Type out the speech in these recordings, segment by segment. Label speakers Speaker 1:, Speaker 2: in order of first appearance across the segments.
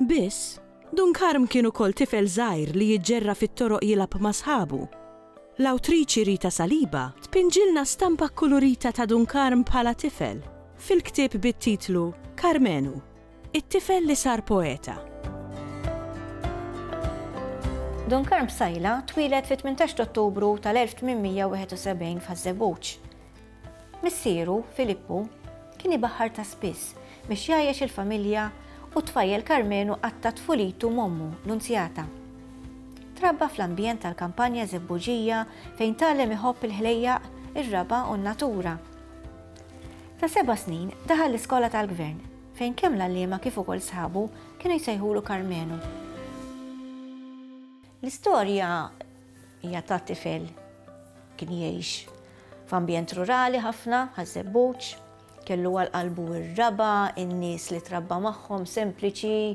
Speaker 1: Biss, Dun Karm kien ukoll tifel żgħir li jiġġerra fit-toroq jilgħab ma' sħabu. L-awtriċi Rita Saliba tpinġilna stampa kkulurita ta' Dun Karm bħala tifel fil-ktieb bit-titlu Karmenu, it-tifel li sar poeta.
Speaker 2: Dun Karm Psaila twieled fit-18 t'Ottubru tal-1871 f'Ħaż-Żebbuġ. Missieru, Filippu, kien ibaħħar ta' spiss biex jgħajjex il-familja u t-tfajjel Karmenu qatta' tfulitu m'ommu, Nunzjata. Trabba fl-ambjent tal-kampanja Żebbuġija fejn tgħallem iħobb il-ħlejjaq, ir-raba' u n-natura. Ta' seba' snin daħal l-iskola tal-gvern fejn kemm l-għalliema kif ukoll sħabu kienu jsejħulu Karmenu. L-istorja Hija tat tifel kien jgħix f'ambjent rurali ħafna, Ħaż-Żebbuġ. Kellu għal qalbu r-raba', in-nies li trabba magħhom, sempliċi,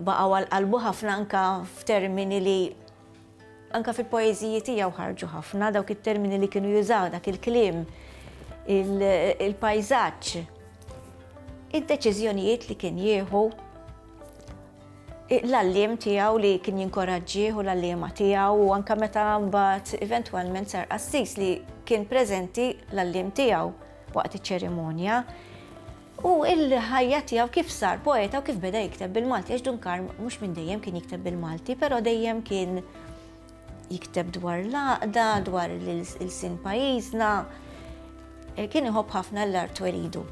Speaker 2: baqgħu għal qalbu ħafna anke f'termini li anke fil-poeżiji tiegħu ħarġu ħafna dawk it-termini li kienu jużaw dak il-kliem, il-pajsaġġ, id-deċiżjonijiet li kien jieħu. l-għalliem tiegħu li kien jinkoraġġih u l-għalliema tiegħu u anke meta mbagħad eventwalment sar qassis li kien preżenti l-għalliem tiegħu waqt iċ-ċerimonja. U il-ħajja tiegħu kif sar poeta u kif beda jikteb bil-Malti, għax Dun Karm mhux minn dejjem kien jikteb bil-Malti, però dejjem kien Jikteb dwar l-għaqda, dwar il-sin pajjiżna, eh, kien iħobb ħafna l-art weridu.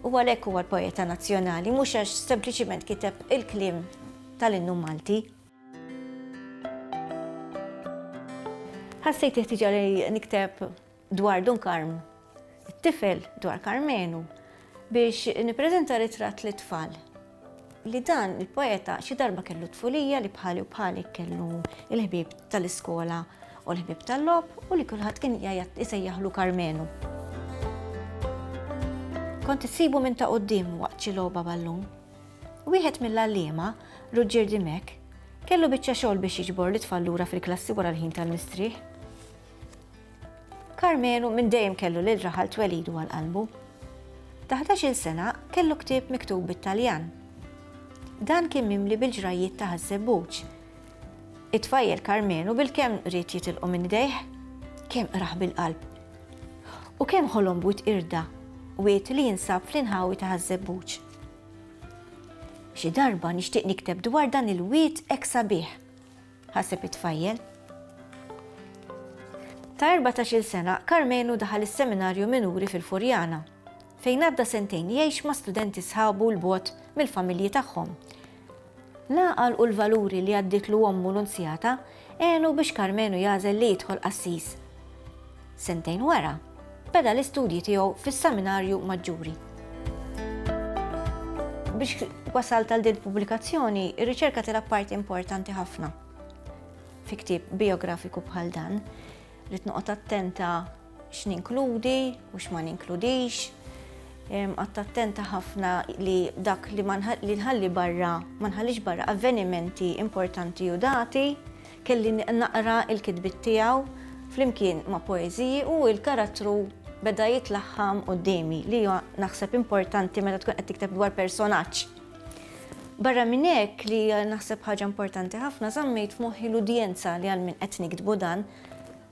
Speaker 2: U għalhekk huwa l-poeta nazzjonali mhux għax sempliċiment kiteb il-kliem tal-innu Malti. Ħassejt iħtiġa li nikteb dwar Dun Karm, it-tifel dwar Karmenu, biex nippreżenta ritratt lit-tfal li dan il-poeta xi darba kellu tfulija li bħali u bħalik kellu il-ħbib tal-iskola u l-ħbib tal-lob u li kulħadd kien jisejjaħlu Karmenu. Kont issibu minn ta' qoddim waqt xi logħba ballun. Wieħed mill-għalliema, Ruġġier Dimek, kellu biċċa xogħol biex jiġbor li tfal lura fil-klassi wara l-ħin tal-mistrieħ. Karmenu minn dejjem kellu lil raħal twelidu għal qalbu. Ta' ħdax-il sena kellu ktieb miktub bit-Taljan. Dan kien mimli bil-ġrajjiet ta' Ħaż-Żebbuġ. It-tfajjel Karmenu bilkemm ried jitilqu minn idejh, kemm qrah bil-qalb. U kemm ħolom b'wied qirda, wied li jinsab fl-inħawi ta' Ħaż-Żebbuġ. Xi darba nixtieq nikteb dwar dan il-wied hekk sabiħ. Ħaseb it-tfajjel. Ta' erbatax-il sena, Karmenu daħal is-seminarju minuri fil-Furjana, fejn għadda sentejn jgħix ma' studenti sħabu 'l bogħod mill-familji tagħhom. L-għaqal u l-valuri li għaddietlu ommu Nunzjata għenu biex Karmenu jagħżel li jidħol qassis. Sentejn wara, beda l-istudji tiegħu fis-Seminarju Maġġuri. Biex wasalt għal din il-pubblikazzjoni, ir-riċerka tilgħab parti importanti ħafna fi ktieb biografiku bħal dan, li tnoqgħod attenta x'ninkludi u x'ma ninkludix, għat attenta ħafna li dak li li nħalli barra, ma nħallix barra avvenimenti importanti u dati, Kelli naqra l-kitbiet tiegħu flimkien ma' poeżiji u l-karattru beda jitlaħħam quddiemi, li huwa naħseb importanti meta tkun qed tikteb dwar personaġġ. Barra minn hekk li naħseb ħaġa importanti ħafna żammejt f'moħħi l-udjenza li għal min qed niktbu dan,